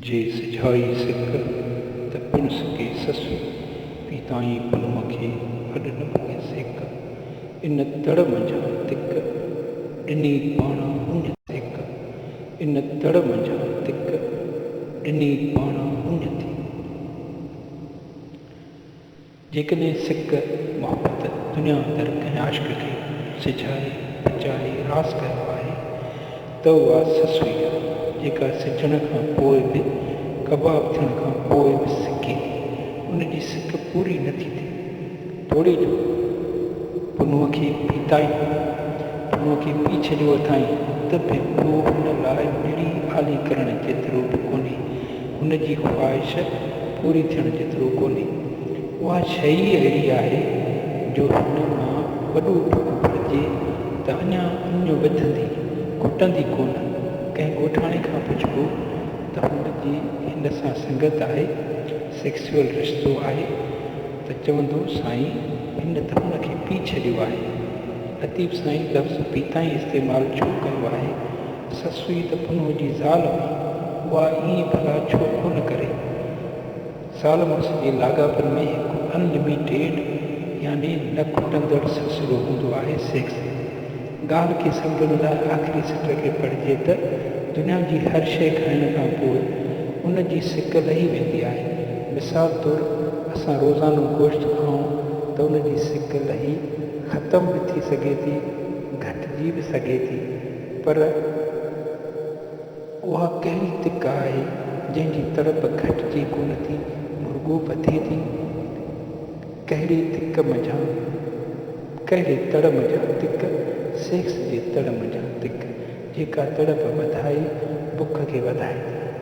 جي سجهائي سڪ ته پڻ سڪي سس، پيتائين پنهونء کي هڏ نه پائي سيڪ، ان تڙ منجهان تک ڏني پاڻان هن سيڪ، ان تڙ منجهان تک ڏني پاڻان هن ٿي. جيڪڏهن سڪ، محبت، دنيا اندر ڪنهن عاشق کي سجهائي، پچائي، راس ڪيو آهي ته اها سس هئي آهي، جيڪا سجهڻ کان پوء به، ڪباب ٿيڻ کان پوء به سڪي ٿي. ان جي سڪ پوري نه ٿي ٿئي. توڙي جو پنهونء کي پيتائين، پنهونء کي پي ڇڏيو اٿائين ته به پوء هن لاء نڙي آلي ڪرڻ جيترو به ڪونهي هن جي خواهش پوري ٿيڻ جيترو ڪونهي. اها شيء ئي اهڙي آهي جو هن مان وڏو ٽڪ ڀرجي ته اڃا اڃ وڌندي، گهٽندي ڪونه. ڪنهن ڳوٺاڻي کان پڇبو ته هن جي هن سان سنگت آهي، سيڪسيول رشتو آهي، ته چوندو سائين هن ته هن کي پي ڇڏيو آهي. لطيف سائين لفظ پي تائين استعمال ڇو ڪيو آهي سسئي ته پنهونء جي زال هئي، اها ائين ڀلا ڇو ڪونه ڪري؟ زال مڙس جي لاڳاپن ۾ هڪ ان لميٽيڊ يعني نه کٽندڙ سلسلو هوندو آهي، سيڪس. ڳالهه کي سمجهڻ لاء آخري سٽر کي پڙهجي ته دنيا جي هر شيء کائڻ کان پوء ان جي سڪ لهي ويندي آهي. مثال طور اسان روزانو گوشت کائون ته ان جي سڪ لهي ختم به ٿي سگهي ٿي، گهٽجي به سگهي ٿي. پر اها ڪهڙي تڪ آهي جنهن جي تڙپ گهٽجي ڪونه ٿي رڳو وڌي ٿي. ڪهڙي تڪ منجهان، ڪهڙي تڙ منجهان تڪ، سيڪس جي تڙ منجهان تڪ جيڪا تڙپ وڌائي بک کي وڌائي ٿي.